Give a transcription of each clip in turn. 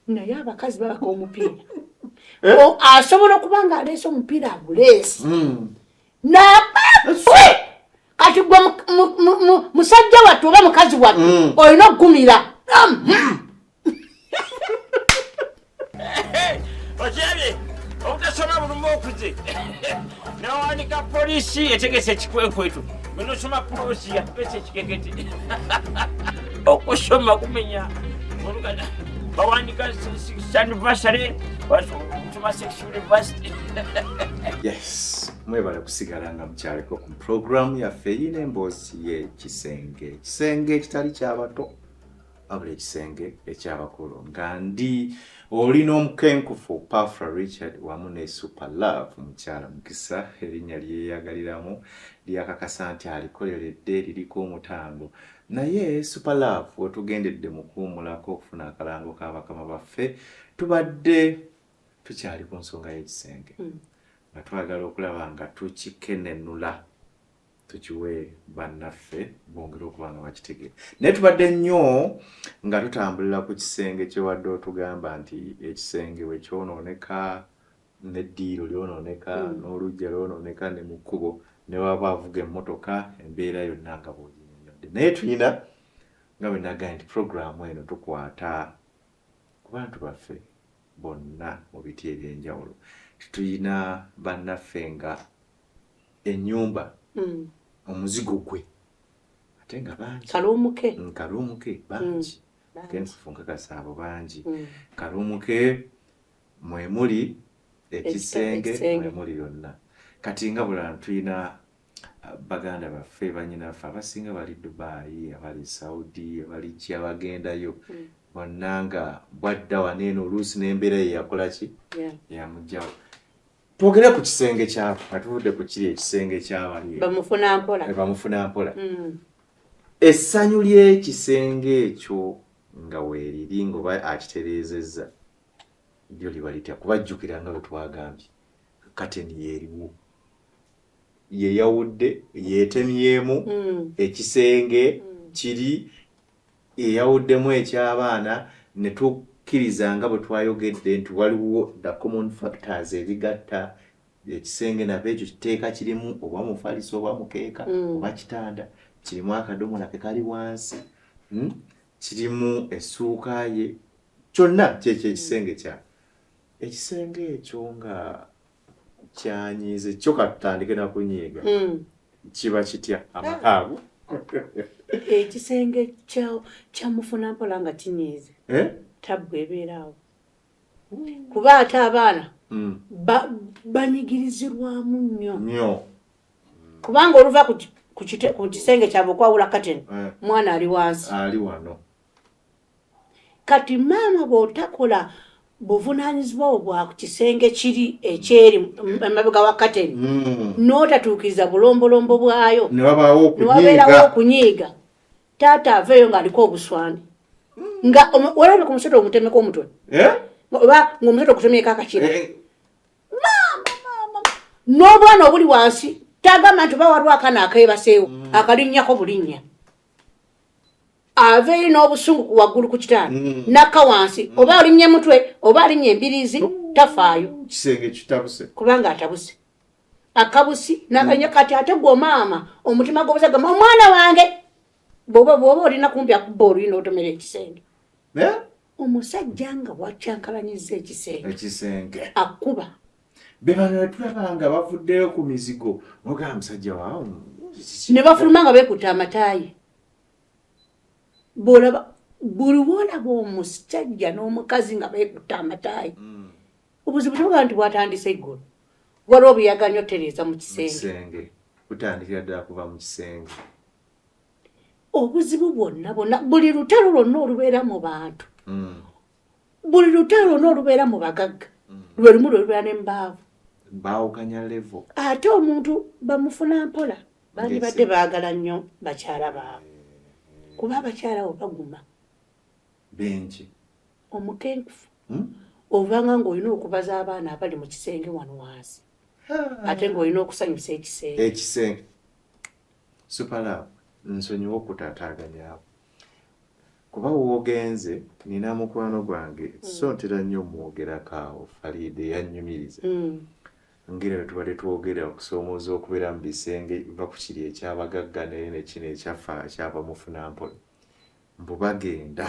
naye abakazi babaka omupiira eh? asobola okuba nga aleese omupiira aguleesi hmm. nabafe kati gwe musajja wattu oba mukazi wattu hmm. olina okugumira okyabye obutasoma bulumu okuze nawanika polisi etegese ekikwekweto bwenosoma polisi yatupesa ekikekete okusoma kumenya olugana bawandika sanivasare basoma sex university yes mwebale kusigala nga mukyaliko ku puroguramu yaffe yina emboozi yekisenge ekisenge ekitali kyabato wabula ekisenge ekyabakulu nga ndi oli n'omukenkufu pafra richard wamu ne super love mukyala mukisa erinnya lyeyagaliramu lyakakasa nti alikoleredde liriko omutango naye super love wetugendedde mu kuwumulako okufuna akalango ka bakama baffe tubadde tukyali ku nsonga y'ekisenge hmm. nga twagala okulaba nga tukikenenula tukiwe bannaffe bongere okuba nga bakitegere naye tubadde nnyo nga tutambulira ku kisenge kyewadde otugamba nti ekisenge we kyonooneka neddiiro lyonooneka mm. n'olujja lyonooneka ne mu kkubo ne waba avuga emmotoka embeera yonna nga bwoginyonyodde naye tulina nga bwe nagaye nti puroguramu eno tukwata ku bantu baffe bonna mu biti eby'enjawulo tetulina bannaffe nga enyumba mm. omuzigo gwe ate nga bangi kalumuke mm, kalumuke bangi mm. kenfufunka kasaabo bangi mm. kalumuke mwemuli ekisenge mwemuli yonna kati nga bulala tulina uh, baganda baffe banyinaffe abasinga bali dubayi abali saudi abali ki abagendayo mm. bonna nga bwadda waneeno oluusi n'embeera ye yakolaki yamugjawo twogere ku kisenge kyabo nga tuvudde ku kiri ekisenge kyabani bamufuna mpola eh, bamufuna mpola mm. essanyu ly'ekisenge ekyo nga weeriri ngaoba akitereezezza lyo liba litya kubajjukira nga bwe twagambye kateni yeeriwo yeyawudde yeetemyemu mm. ekisenge mm. kiri eyawuddemu eky'abaana ne tukkiriza nga bwe twayogedde nti waliwo the common factors ebigatta ekisenge nava ekyo kiteeka kirimu oba mufaliso oba mukeeka mm. oba kitanda kirimu akadomola ke kali wansi hmm? kirimu essuuka ye kyonna kyekyo ekisenge kya ekisenge ekyo nga kyanyiize kyo katutandike nakunyiiga hmm. kiba kitya amakaago ekisenge kyamufuna mpola nga kinyiize eh? tabbu ebeeraawo kuba ate abaana hmm. banyigirizirwamu nnyo nyo kubanga oluva ku kisenge kyabwe okwawula kateni eh. mwana ali wansi ali wano kati maama bwotakola buvunanyizibwa obwo bwa kisenge kiri ekyeri emabega wa kateni mm. n'otatuukiriza bulombolombo bwayo newabeerawo okunyiiga taata aveeyo ng'aliko obuswani nga olabye ku musota omutemeko omutwe eh? oba ng'omusota okutemyeko akakira eh, eh. n'obwana obuli wansi tagama nti oba waliwo akana akeebaseewo mm. akalinnyako bulinnya aveeyo n'obusungu ku waggulu ku kitaano mm. nakka wansi mm. oba alinnya mutwe oba alinnya embiriizi tafaayo kisenge kitabuse kubanga atabuse akabusi naganya mm. kati ate gwo maama omutima gwobusa gamba omwana wange bwoba bwoba olina kumpi akubba oluyina otomera ekisenge omusajja nga wakyankalanyiza ekisenge akuba bebano netulaba nga bavuddeyo ku mizigo nogaa musajja waawo ne bafuluma nga bekuta amataayi bwolaba buli wolaba omusajja n'omukazi nga bekuta amataayi mm. obuzibu toga nti bwatandise eggulu waliwo obuyaga nyo tereeza mu kisenge butandikira ddala kuva mu kisenge obuzibu bwonna bwonna buli lutalo lwonna olubeera mu bantu mm. buli lutalo lwona olubeera mu bagagga mm. lwe lumu lwe lubeera ne mubaavu baawukanya levo ate omuntu bamufuna mpola bandibadde baagala nnyo bakyala baabo eh. kuba abakyala bo baguma benki omukenkufu hmm? ovanga ng'olina okubaza abaana abali mu kisenge wano wansi ate ng'olina okusanyusa ekisenge ekisenge supalaabu nsonyiwa okutaataaganya abo Kuba w'ogenze nnina mukwano gwange mm. so ntera nnyo omwogerako awo Fariida eyannyumiriza mm. ngeri bwe tubadde twogera okusoomooza okubeera mu bisenge va ku kiri ekyabagagga naye ne kino ekyaffa kyava mufunampola mbu bagenda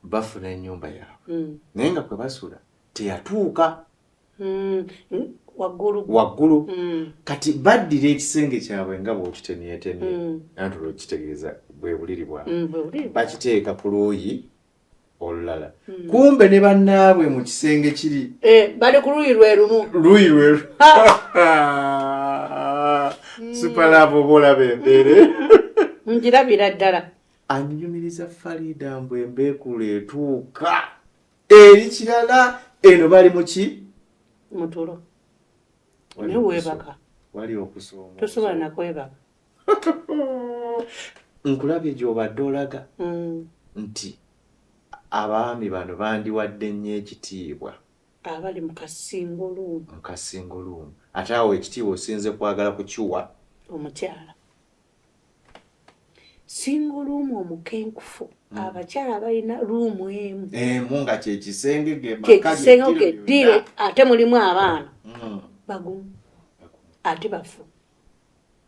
bafuna ennyumba yaabwe mm. naye nga kwe basula teyatuuka mm, waggulu waggulu mm. kati baddira ekisenge kyabwe nga bwokitemyetemye mm. anti olwokitegeeza bwebuliri bwabwe mm, bakiteeka ku luuyi olulala mm. kumbe ne bannaabwe mu kisenge kiri eh, bali ku luuyi lwe lumu luuyi lwe mm. supalaava oba olaba embeere njirabira ddala anyumiriza fariida mbu embeekulo etuuka eri kirala eno bali muki mutulo newebaka wali okusoma tosobola nakwebaka nkulabye gyobadde olaga mm. nti abaami bano bandiwadde nnyo ekitiibwa abali mukasingoluumu mukasingoluumu ate awo ekitiibwa osinze kwagala kukiwa omukyala single room omukenkufu mm. abakyala balina room emu emu nga kyekisenge kyekisenge kedire ate mulimu abaana mm. bagumu ate bafu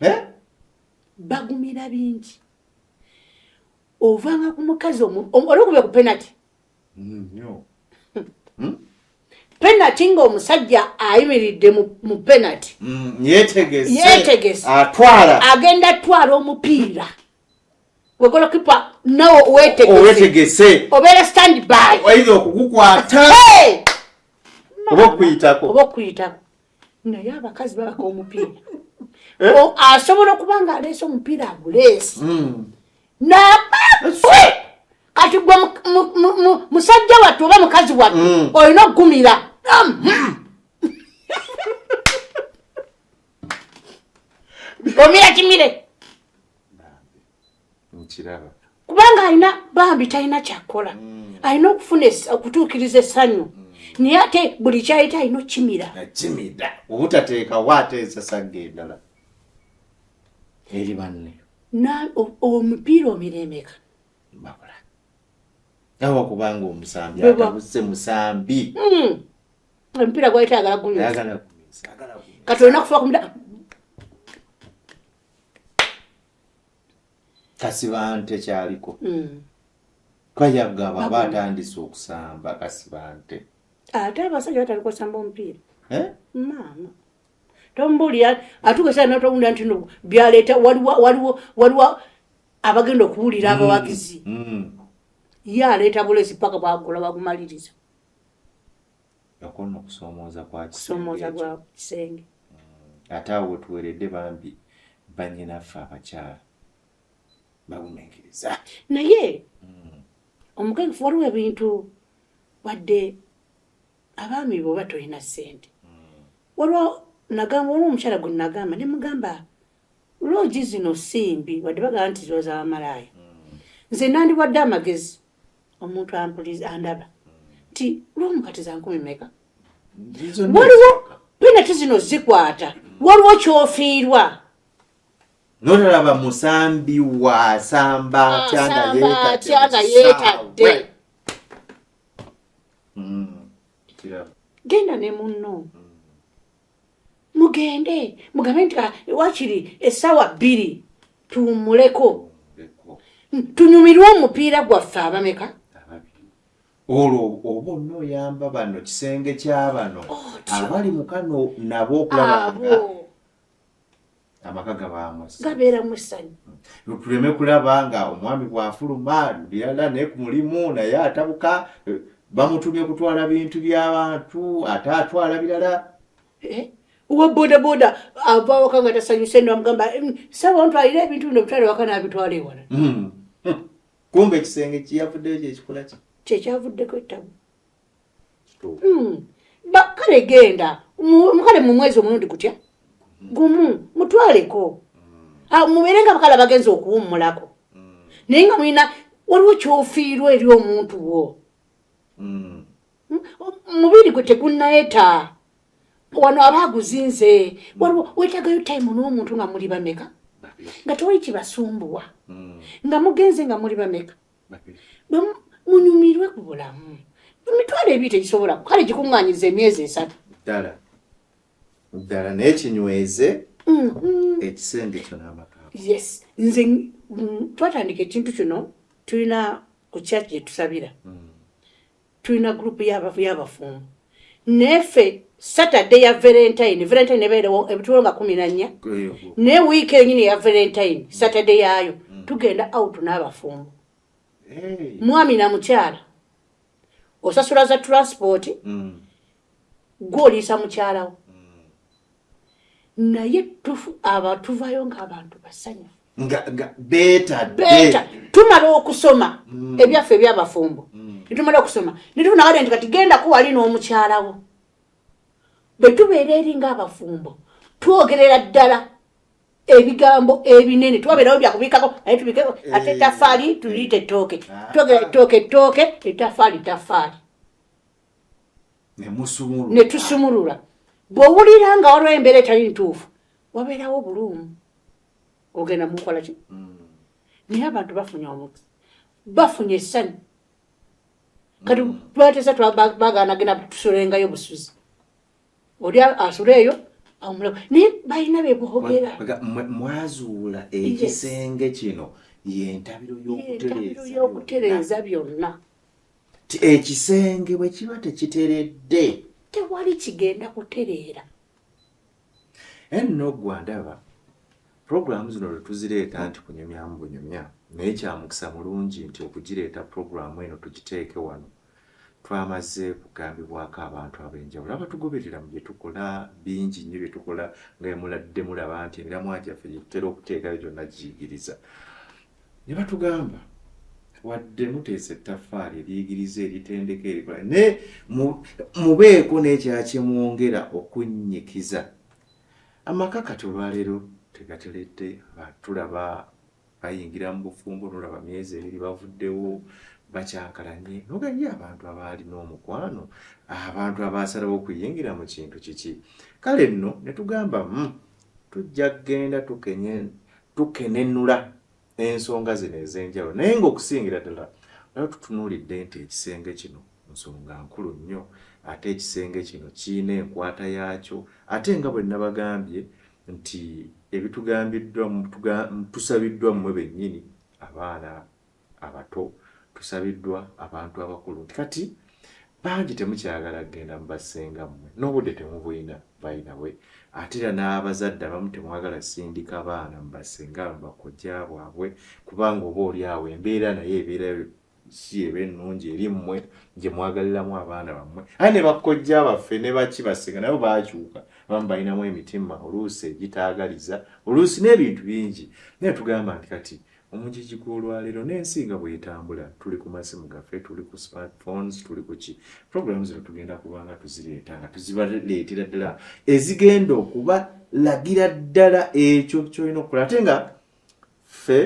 eh? bagumira bingi ovanga ku mukazi olwokuba ku penati hmm? penati ng'omusajja ayimiridde mu penati hmm, yetegese agenda atwala omupiira wegolokipa nawe wetegese obeera standby oyiza okugukwata oba okuyitako oba okuyitako naye abakazi babaka omupiira eh? asobola okuba nga aleese omupiira aguleesi hmm. kati gwe musajja wattu oba mukazi wattu mm. olina okugumira omira kimire kubanga alina bambi talina kyakukola mm. alina okufuna okutuukiriza essanyu mm. naye ate buli kyayita alina okukimira obutateekawo ateesasagga endala eri banne omupiira omiremeka bakula awa kubanga omusambi atabuse musambi hmm. omupiira gwayitagala guyagala kati olina kufa kumuda kasibante kyaliko hmm. twayagaba aba atandise okusamba kasibante ate abasajja bataliko samba omupiira eh? maama tombuulira atukesa notowunda nti no byaleeta waliwo waliwo waliwo abagenda okuwulira mm, abawagizi mm. ye aleeta bulesi paka bwagula bagumaliriza yakona okusomooza kwakusomooza gwa kisenge mm. ate awo tuweredde bambi banyinaffe abakyala baguminkiriza naye omukefu waliwo ebintu wadde abaami bwoba tolina sente hmm. waliwo nagamba waliwo omukyala gwe nagamba ne mugamba loogi zino simbi wadde bagamba nti ziba zabamalaaya hmm. nze nandiwadde amagezi omuntu ampuliza andaba nti lwomu kati zankumi meka waliwo penati zino zikwata waliwo kyofiirwa nolaba musambi wasamba ah, tyanga yetadde mm, genda ne munno mm. mugende mugambe nti ah, wakiri esawa bbiri tuwumuleko mm, tunyumirwe omupiira gwaffe abameka olwo oba onna oyamba bano kisenge kyabano abali mukano nabo okulaba amaka gabaamu gabeeramu essanyu hmm. tuleme kulaba nga omwami bw'afuluma birala naye ku mulimu naye atabuka eh, bamutumye kutwala bintu by'abantu ate atwala birala eh? owa bodaboda ava awaka nga tasanyuse no amugamba hmm, saba ontwalire ebintu bino bitwale waka n'abitwala ewala hmm. kumbe ekisenge kiyavuddeyo kyekikola ki kyekyavuddeko ettabu hmm. kale genda mukale mu mwezi omulundi gutya gumu mutwaleko hmm. ah, mubeere nga bakala bagenza okuwummulako hmm. naye nga mulina waliwo kyofiirwa eri omuntu wo mubiri gwe tegunayeta wano aba aguzinze waliwo wetagayo time n'omuntu nga muli bameka nga tewali kibasumbuwa nga mugenze nga muli bameka munyumirwe ku bulamu emitwalo ebiri tegisobola kale gikuŋŋanyiriza emyezi esatu ddala ddala naye kinyweze mm-hmm. ekisenge kyo n'amaka yes nze mm, twatandika ekintu kino tulina ku kyaki gye tusabira mm. tulina group yabafu yabafumbo nefe saturday ya valentine valentine nebeerewo ebitulo nga kumi nanya ne wiiki enyini ya valentine saturday yayo mm. tugenda out n'abafumbo mwami na mukyala osasula za transport mm. gwe oliisa mukyalawo naye tufu abatuvayo ngaabantu basanya beta tumala okusoma mm. ebyaffe ebyabafumbo mm. netumala okusoma netufunawade nti kati gendako wali n'omukyalawo bwe tubeera eri ngaabafumbo twogerera ddala ebigambo ebinene twabeerawo byakubikako naye tubikeko eh. ate etafaali tuliyita ettooke ah. twogera ettooke ettooke etafaali tafaali ne tusumulula bw'owulira nga waliwo embeera etali ntuufu wabeerawo obuluumu ogenda mukola ki mm. naye abantu bafunye omuti bafunye essanyu kati mm. twatesa twabagana genda tusulengayo busuzi oli asula eyo awumula naye balina bebogera mwazuula ekisenge kino yentabiro yokutereeza byonna ti ekisenge bwe kiba tekiteredde tewali kigenda kutereera enno gwandaba puroguramu zino lwe tuzireeta nti kunyumyamu bunyumya naye kyamukisa mulungi nti okugireeta puroguramu eno tugiteeke wano twamaze kugambibwako abantu ab'enjawulo abatugoberera mu bye tukola bingi nnyo bye tukola nga emuladde mulaba nti emiramwa gyaffe gyetutera okuteekayo gyonna giyigiriza ne batugamba wadde muteesa ettaffaali eriyigiriza eritendeka erikola naye mubeeko n'ekyakimwongera okunnyikiza amaka kati olwaleero tegateledde tulaba bayingira mu bufumbo nolaba myezi ebiri bavuddewo bakyankalanye nogaye abantu abaalina omukwano abantu abaasalawo okuyingira mu kintu kiki kale nno ne tugamba hmm, tujja kugenda tukenye tukenenula ensonga zino ez'enjawulo naye ng'okusingira ddala oba tutunuulidde nti ekisenge kino nsonga nkulu nnyo ate ekisenge kino kirina enkwata yaakyo ate nga bwe nnabagambye nti ebitugambiddwa tusabiddwa mmwe bennyini abaana abato tusabiddwa abantu abakulu nti kati bangi temukyagala kugenda mu bassenga mmwe n'obudde temubulina bayina we ate era n'abazadde abamu temwagala sindika baana mu bassenga bakojja bwabwe kubanga oba oli awo embeera naye ebeera si eba ennungi eri mmwe gye mwagaliramu abaana bammwe aye ne bakojja baffe ne baki bassenga nabo bakyuka abamu balinamu emitima oluusi egitaagaliza oluusi n'ebintu bingi naye tugamba nti kati Omugigi gw'olwaleero n'ensi nga bw'etambula tuli ku masimu gaffe, tuli ku smart phones, tuli ku ki programu zino tugenda kuba nga tuzireeta nga tuzibaleetera ddala ezigenda okubalagira ddala ekyo kyolina okukola ate nga ffe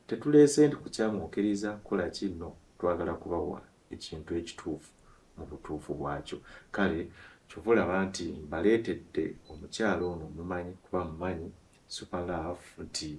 tetuleese nti kukyamwokiriza kukola kinno twagala kubawa ekintu ekituufu mu butuufu bwakyo kale kyova olaba nti mbaleetedde omukyalo ono mumanyi kuba mumanyi super love nti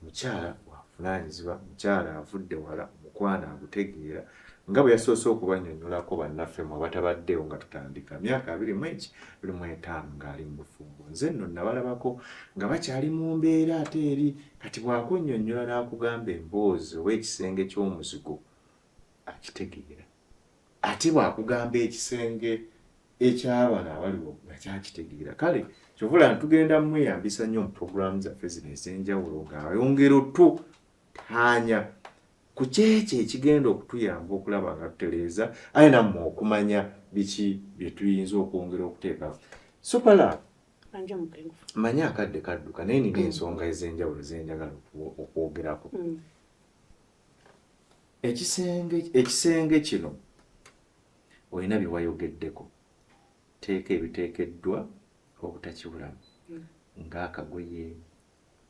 mukyala wavunaanyizibwa mukyala avudde wala omukwano agutegeera nga bwe yasoose okubanyonyolako bannaffe mu abatabaddewo nga tutandika myaka abiri mu eki buli mu etaano ng'ali mu bufumbo nze nno nabalabako nga bakyali mu mbeera ate eri kati bwakunnyonnyola n'akugamba emboozi oba ekisenge ky'omuzigo akitegeera ate bwakugamba ekisenge ekyabano abaliwo nga kyakitegeera kale kyovula ntugenda mumweyambisa nnyo mu puroguramu zaffe zino ez'enjawulo ng'ayongera otu taanya ku kyekyo ekigenda okutuyamba okulaba nga tutereeza aye nammwe okumanya biki bye tuyinza okwongera okuteekawo supala manya akadde kadduka naye nina ensonga ez'enjawulo zenjagala okwogerako mm. ekisenge ekisenge kino olina bye wayogeddeko teeka ebiteekeddwa obutakibulamu mm. ng'akagoye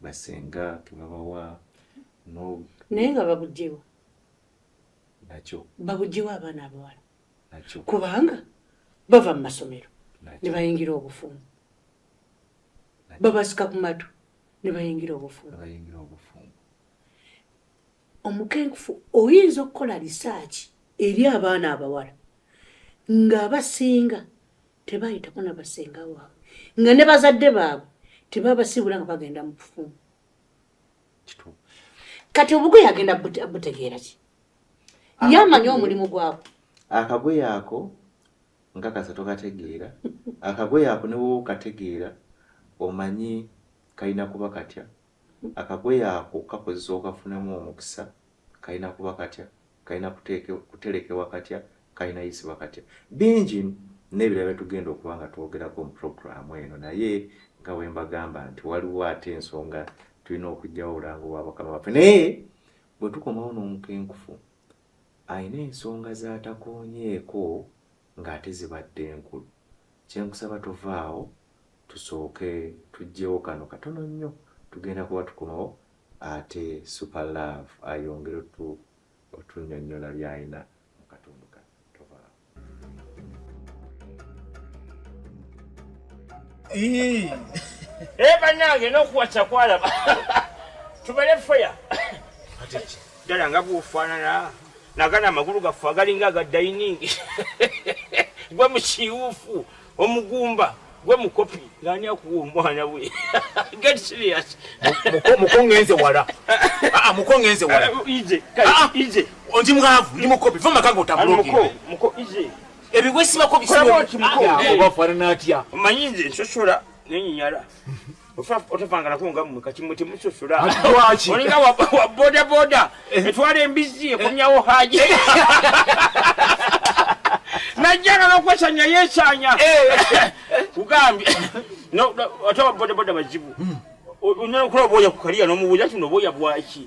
basenga kebabawa naye nga babujewa nakyo babujewa abaana abawala nakyo kubanga bava mu masomero ne bayingira obufumbo babasika ku matu ne bayingira obufumbo omukenkufu oyinza okukola lisaaki eri abaana abawala ng'abasinga tebayitako na basinga waabwe nga ne bazadde baabwe tebabasiibula nga bagenda mu kufumu kati obugoye agenda butegeera ki ye amanyi omulimu gwabwe akagoye ako nga kasa tokategeera akagoye ako ne woba okategeera omanyi kalina kuba katya Akagoye ako kakozesa okafunamu omukisa, kalina kuba katya, kalina kuterekewa katya, kalina yisibwa katya. Bingi nebirala byetugenda okuba nga twogerako mu program eno naye nga wembagamba nti waliwo ate ensonga tulina okujjawo obulango bwa bakama baffe naye bwetukomawo n'omukenkufu alina ensonga zatakonyeeko ng'ate zibadde nkulu kyenkusaba tovaawo tusooke tujjewo kano katono nnyo tugenda kuba tukomawo ate super love ayongere otu otunyonyola byayina mukatundu ka tovaawo banange nokuwaca kwalaba tubale feya ddala nga bwofaanana nagana amagulu gaffe agalinga aga dainingi gwe mukiwufu omugumba gwe mukopi ngani akuwa omwana we get serious muko ngenze wala ah, ah muko ngenze wala ah, ije ah, ije ondi mwavu ndi mukopi vuma kango tabulogi muko muko ije ebi wesi bako bisimo oba fara natya manyinze nsosola nenyinyala otapangalako nga mwe kati mwe temusosola lwaki olinga wa boda boda eh. etwala embizzi ekomyawo haji eh. najjagala okwesanya yesanya eh. kugambye ate wa boda boda bazibu hmm. onokula oboya kukaliya nomubuuza kino oboya bwaki